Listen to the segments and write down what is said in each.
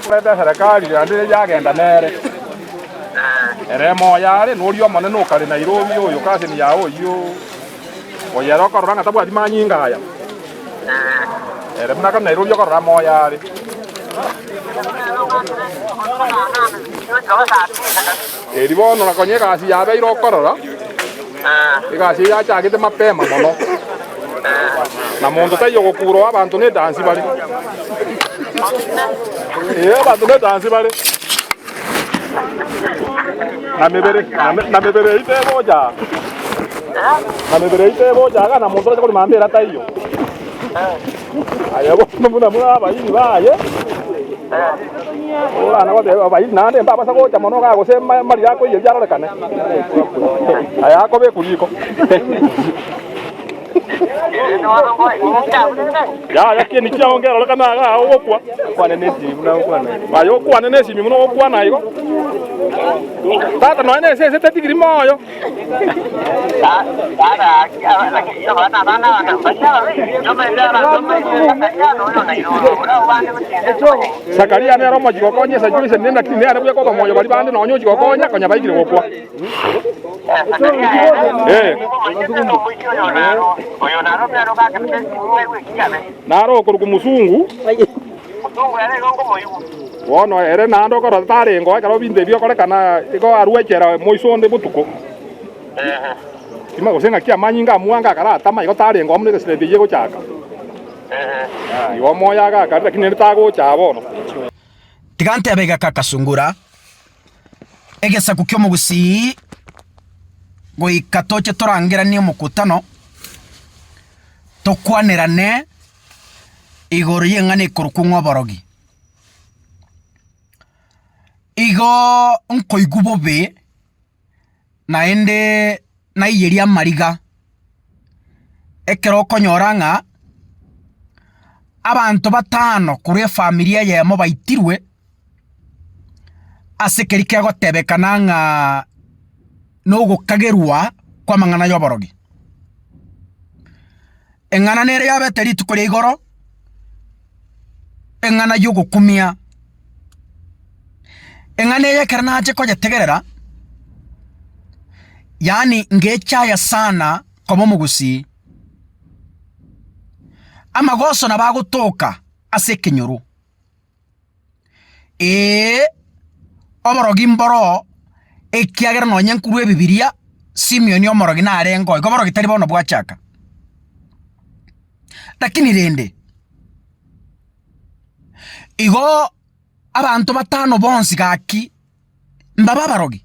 Korende eserekari yande eria yagenda nere, ere moyo are, noria omonene o kare Nairobi, oyo Cousin yao oyio, oyo ere okorora ng'a tabwati manyinga aya, ere buna kare Nairobi okorora moyo are. Erio bono na konya egasi yabeire okorora, egasi eye yachagete mapema mono, na monto taiyo ogokuurwa abanto nedansi bare. Ee, abanto nedansi bare, na mebere na mebere eyio tegocha na mebere eyio tegocha aa, na monto orache korima ambera taiyo. Aye bono buna buna abairi baye Korana goteba abairi naende mbabasa gocha mono iga gose amariri akoiyia biarorekane. Aye akobekwa riko. Yaya kieni kiao ngerorekane iga ogokwa. Okwane nesimi buna okwana. Aye okwane nesimi buna ogokwana igo. Tata nonya nesese tetigiri moyo. Zakaria nere omochi gokonya esegi ya Isiraeli, naki nere buya koba moyo baria bande nonya ochi gokonya konya baikire gokwa. Ee. Naro okorokwa omosungu. Omotungu ere igo ngomoigwe. Bono ere naende okorora tarengeo ekero binto ebi biokorekana, igo arue echela moiso onde botuko, gose ng'aki amanyinga amwange akaratama, igo tarengeo buna egesira ebiya egochaka. Igo omoyo agakare, lakini naende tagocha aa bono. Tiga ntebe iga kagasungura egesaku ki'omogusii goika toche torangeranie omokutano, tokwanerane. igoro y'eng'ana ekorokwa ng'oborogi. Igoooo nkoigwa bobe naendeeee naiyeria amariga ekero okonyora ng'a abanto batano korwa efamilia eyemo baitirwe ase ekeri kegotebekana ng'aaaa nogokagerwa kw'amang'ana y'oborogi. Eng'ana nere yabete rituko ria igoro, eng'ana y'ogokumia. Eng'ana eye ekero nache konyetegerera, yaani ngechaya sana koba omogusii. Amagoso nabo agotoka ase ekenyoro, Ee, oborogi mboroo, ekiagera nonye nkorwa Ebibiria, Simion omorogi narengeo, igo oborogi tari bono bwachaka. Lakini rende, igoo abanto batano bonsi gaki, mbaba abarogi?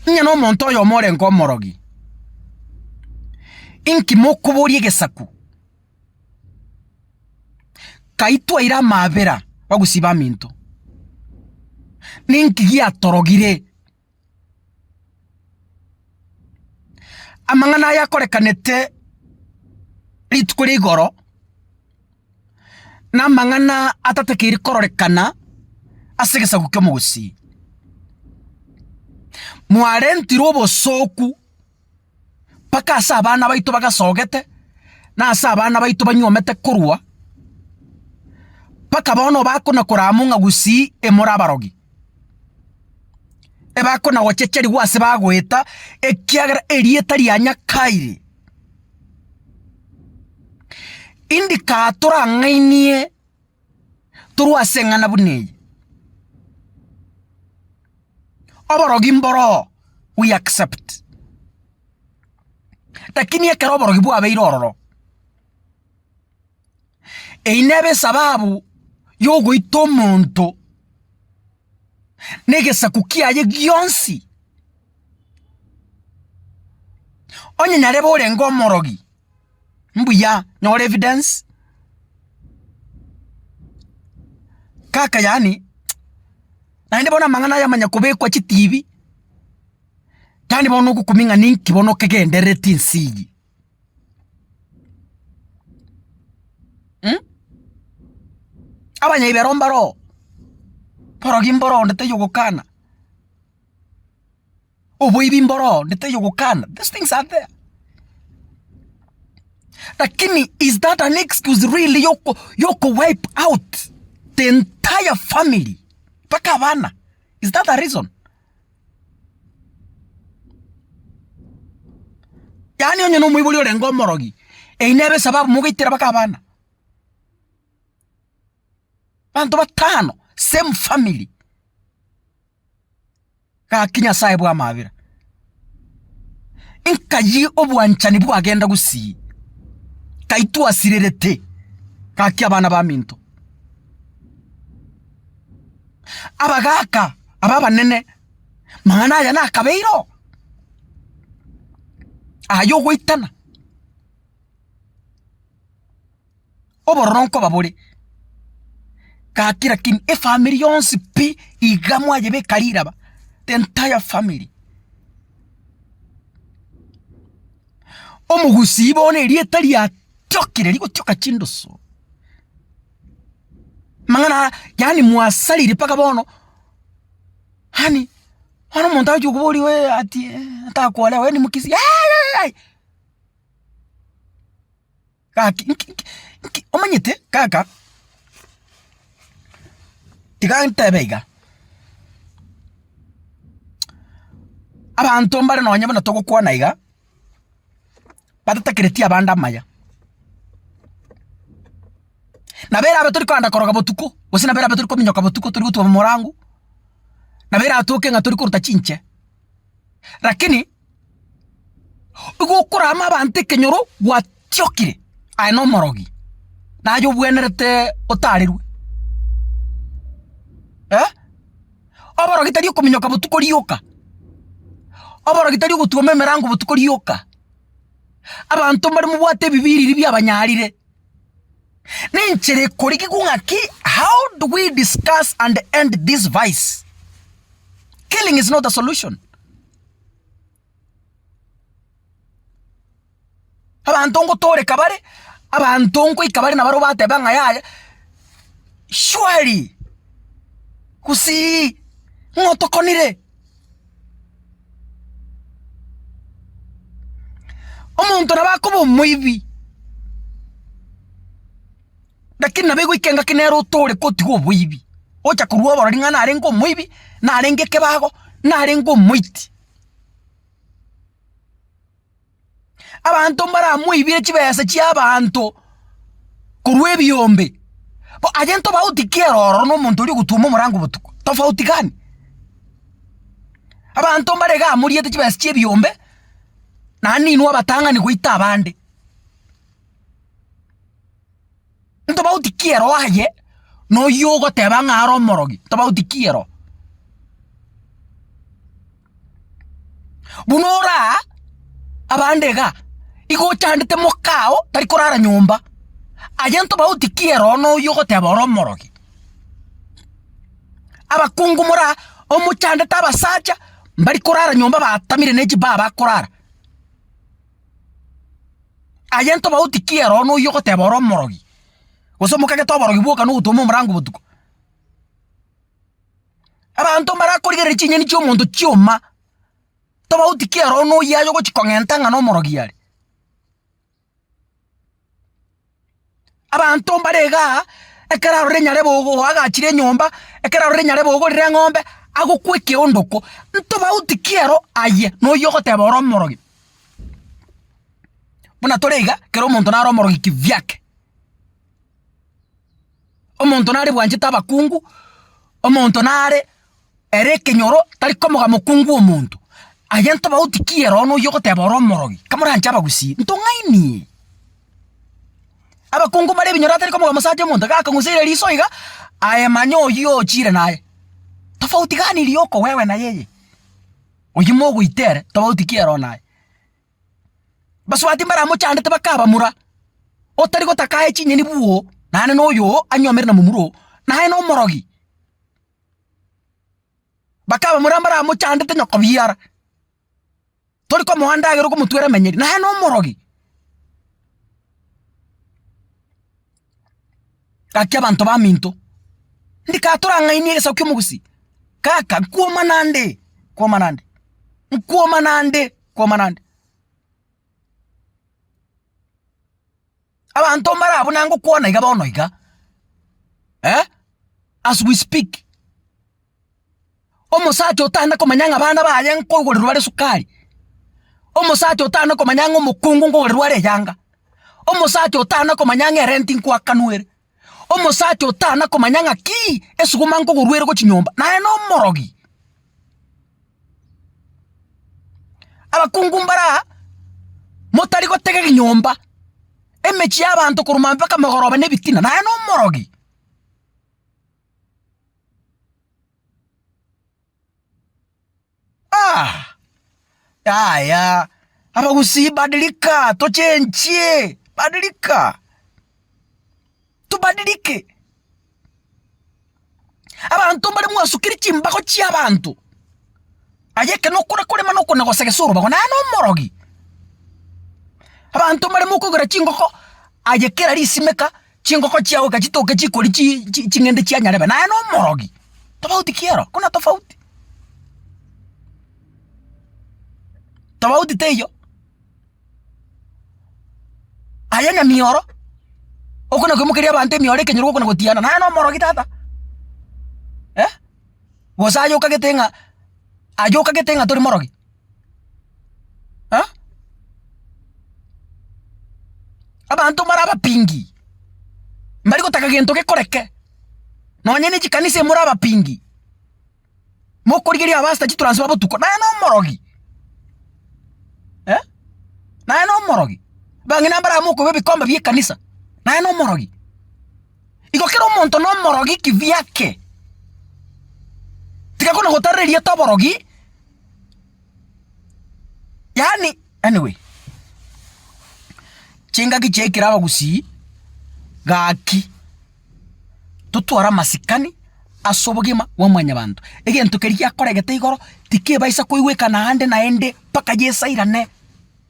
Onye nomonto oyomo orenge omorogi, inki mokoboria egesaku? Kaitwaire amaabera bagosiba aminto. Ninki giatorogire? Amang'ana aya akorekanete rituko ria igoro namang'ana atatekeiri kororekana ase egesaku ki'omogusii. Mwarentirwe obosooku. mpaka ase abana baito bagasogete, na ase abana baito banyuomete korwa, mpaka bono obakona kora amo ng'a gusii emore abarogi. Ebakona gochecharigwa ase bagoeta, ekiagera erieta ria Nyakai indikatora ng'ainie torwa ase eng'ana buna eye. Oborogi mboroo, we accept. Lakini ekero oborogi bwabeire ororo, eyi nebe esababu yogoita omonto na egesaku kiaye gionsi. Onye nyarebe orenge omorogi, mbuya, nyora evidence. Kaka yaani, naende bono amang'ana aya manya kobekwa chitibi, yaani bono nogokumia ng'a ninki bono kegenderereti ense eye. Abanyabibero mbaro oo, borogi mboro oo onde taiyo ogokana. Oboibi mboro oo onde taiyo ogokana, these things are there. Lakini is that an excuse really yoko yoko wipe out the entire family mpaka abana? Is that a reason? Yaani onye na omoibori orenge omorogi, eyi nebe esababu mogaitera mpaka abana? Abanto batano, same family. gaki Nyasae bw'amabera, nkayie obwanchani bwagenda gusii, kai twasirerete gaki abana baminto. Abagaaka aba abanene, mang'ana aya nakabeire oo, ay'ogoitana. obororo nkoba bore, gaki rakini efamiri yonsi pi iga mwayebeka riraba, the entire family. Omogusii bono erieta riatiokire rigotioka chindusu, mang'ana yaani mwasarire mpaka bono, yaani bono omonto agochia kokoboria wee ati atakwane aye nimokisi yayayayai. Gaki nki nki nki omanyete kaka, tiga ntebe iga, abanto mbare nonye buna togokwana iga, batatakereti abande amaya, nabo erabe tori kogenda koroga botuko, gose nabo erabe tori kominyoka botuko tori gotwa morango, nabo erabe toke ng'a tori korota chinche, rakini. Igo okorama abanto ekenyoro gwatiokire aye na omorogi, naye obwenerete otarerwe eh, oborogi tari okominyoka botuko rioka, oborogi tari ogotwoma emerango botuko rioka, abanto mbare mobwate ebibe riria biabanyarire, na enchera ekorigigwa ng'aki how do we discuss and end this vice? Killing is not a solution. Abanto ngotooreka bare, abanto nkoika bare nabaro bateba ng'a yaya, shwari! Gusii! Ng'o otokonire? Omonto nabo akoba omoibi. Lakini nabo egoika engaki nere otore kotiga oboibi, ocha korwa oborori ng'a narenge omoibi, narenge ekebago, narenge omoiti. Abanto mbaramoibire chibesa chiabanto korwa ebiombe, bo aye ntobauti ki ere ororo na omonto oria ogotwoma omorango botuko? Tofauti gani? Abanto mbare iga amoriete chibesa chia ebiombe, naende inwe abatang'ani goita abande. ntobauti ki ero aye na oyio ogoteba ng'a are omorogi, ntobauti ki ero. Buna ore aa, abande iga, igo ochandete moka ao tari korara nyomba, aye ntobauti ki ero na oyio ogoteba ore omorogi. Abakungu more aa, omochandete abasacha mbari korara nyomba batamire ne chibaa bakorara. Aye ntobauti ki ere one oyio ogoteba ore omorogi, gose omokagete oborogi bwoka na ogotwoma omorango botuko? Abanto mbarakorigereria chinyeni chi'omonto chi'oma, tobauti ki ere one oyio aye ogochia kong'enta ng'a nomorogi are? Abanto mbare iga aa, ekero arore nyarebe ogo oagachire enyomba, ekero arore nyarebe ogorire eng'ombe, agokwa ekeondoko. Ntobauti ki ero aye na oyio ogoteba ore omorogi? Buna tore iga, kera omonto nare omorogi kivyake. Omonto nare bwanchete abakungu, omonto nare ere ekenyoro tari komoga mokungu omonto. Aye ntobauti ki ere one oyio ogoteba ore omorogi, kamoranche abagusii, ntong'ainie. Abakungu mbare ebinyoro atari komoga mosacha omonto iga akong'usaire riso iga, aye manya oyio ochire naye. Tofauti gani eri yoko wewe na yeye? Oyio mogoita ere, tobauti ki ere one aye? Basubati mbaramochandete bakabamura, otari gotaka aye chinyeni bwoo, naende na oyoo anyuamere na momura oo, naye nomorogi. Bakabamura mbaramochandete nyoko biara, tori komoa ndagera okomotwera emenyeri, naye nomorogi. Gaki abanto baminto, ndikaba torang'ainie egesaku ki'omogusii, kaka nkwoma nande, nkwoma nande, nkwoma nande, nkwoma nande. Abanto mbare abwo nangokwana iga bono iga, eh, as we speak. Omosacha otana komanya ng'a abana baye nkogoreru are sukari. Omosacha otana komanya ng'a omokungu nkogoreru are eyanga. Omosacha otana komanya ng'a erenti nkoakanwere. Omosacha otana komanya ng'a kii esuguma nkogorwa ere gochia nyomba naye na omorogi. Abakungu mbaraa motari gotega ebinyomba, emechie y'abanto korwa maambia mpaka mogoroba na ebitina naye na omorogi. Ah! Yaya, abagusii badilika, tochenchie, badilika, tobadilike. Abanto mbare mwasukire chimbago chi'abanto, aye ekero okore korema na okona gosegesa orobago naye nomorogi. Abanto mbare mokogera chingoko, aye kera risimeka. Chingoko chiao eka chitoke chikori chi, chi, ching'ende chianyarebe, naye nomorogi. Tofauti ki ero? Kuna tofauti. Tofauti teiyo. Aye nyamioro, okona koimokeria abanto emioro ekenyoro gokona gotiana, naye nomorogi tata. Eh? Gose aye okagete ng'a aye okagete ng'a tori morogi. ha? Abanto more abapingi, mbari gotaka gento gekoreke, nonye ne chikanisa imore abapingi, mokorigereria abapastor chitransfer botuko, naye na omorogi, eh, naye na omorogi, bang'ina mbarabwo mokoba ebikombe bi'ekanisa, naye na omorogi. Igo kera omonto nomorogi kibiake. Tigakona gotarera erieta oborogi, yaani anyway. Chingaki chiekire abagusii, gaki totware amasikani ase obogima bwa mwanyabanto. Egento keria giakoregete igoro, tikebaisa koigwekana aande naende mpaka yesairane.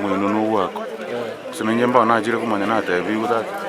Moino nogwakwa, gose na inche mbao nachire komanya natebigwe tata.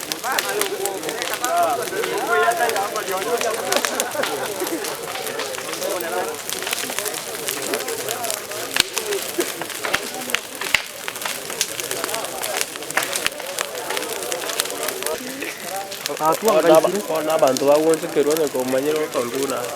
Bono abanto bagwechokerwa, onye komanyire okontung'una ase.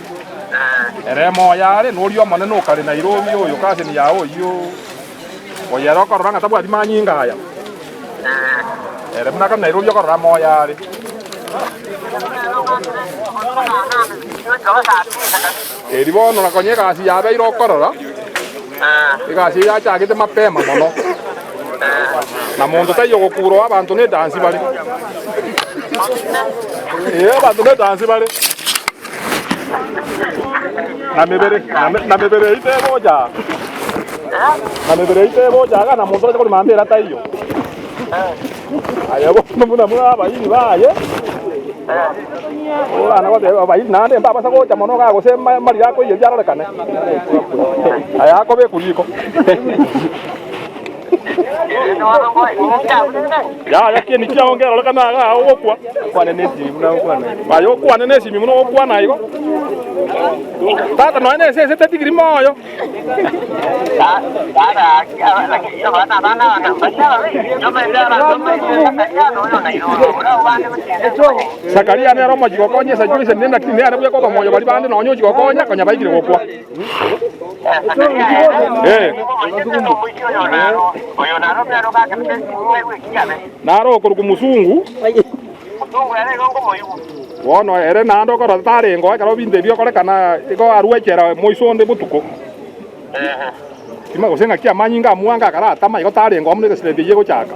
Ere moyo are noria omonene o kare Nairobi oyo cousin yaye oyio oyere okorora ng'a tabwati manyinga aya ere buna kare Nairobi okorora moyo are eri bono na konya egasi yabeire okorora egasi eye yachagete mapema mono na monto taiyo gokura oo abanto nedansi bare ee abanto nedansi bare na mebere na me- na mebere yaito ebocha na mebere yaito ebocha aga na monto oche korima ande era taiyo aye bono buna buna abayiri baye orana goteba abayiri naende mbabasa gocha mono iga gose ma- marire akoiyeria arorekane aya akobekwa riko Yaya, kieni kiao nkerorokane agaa ao ogokwa? Aye okwane nesimi buna ogokwana igo. Tata nonya nesese tetigiri moyo. Zakaria nere omochie gokonya esegi oisanire, lakini nere buya koba moyo baria bande nonya ochia gokonya konya baikire gokwa. Naro okorokwa Musungu, bono ere naende okorora tarengo ekero ebinto ebi biokorekana, igo arue echela moiso onde botuko, gose ng'aki amanyinga a mwanga akaratama, igo tarengo amo negesireri keyio egochaka.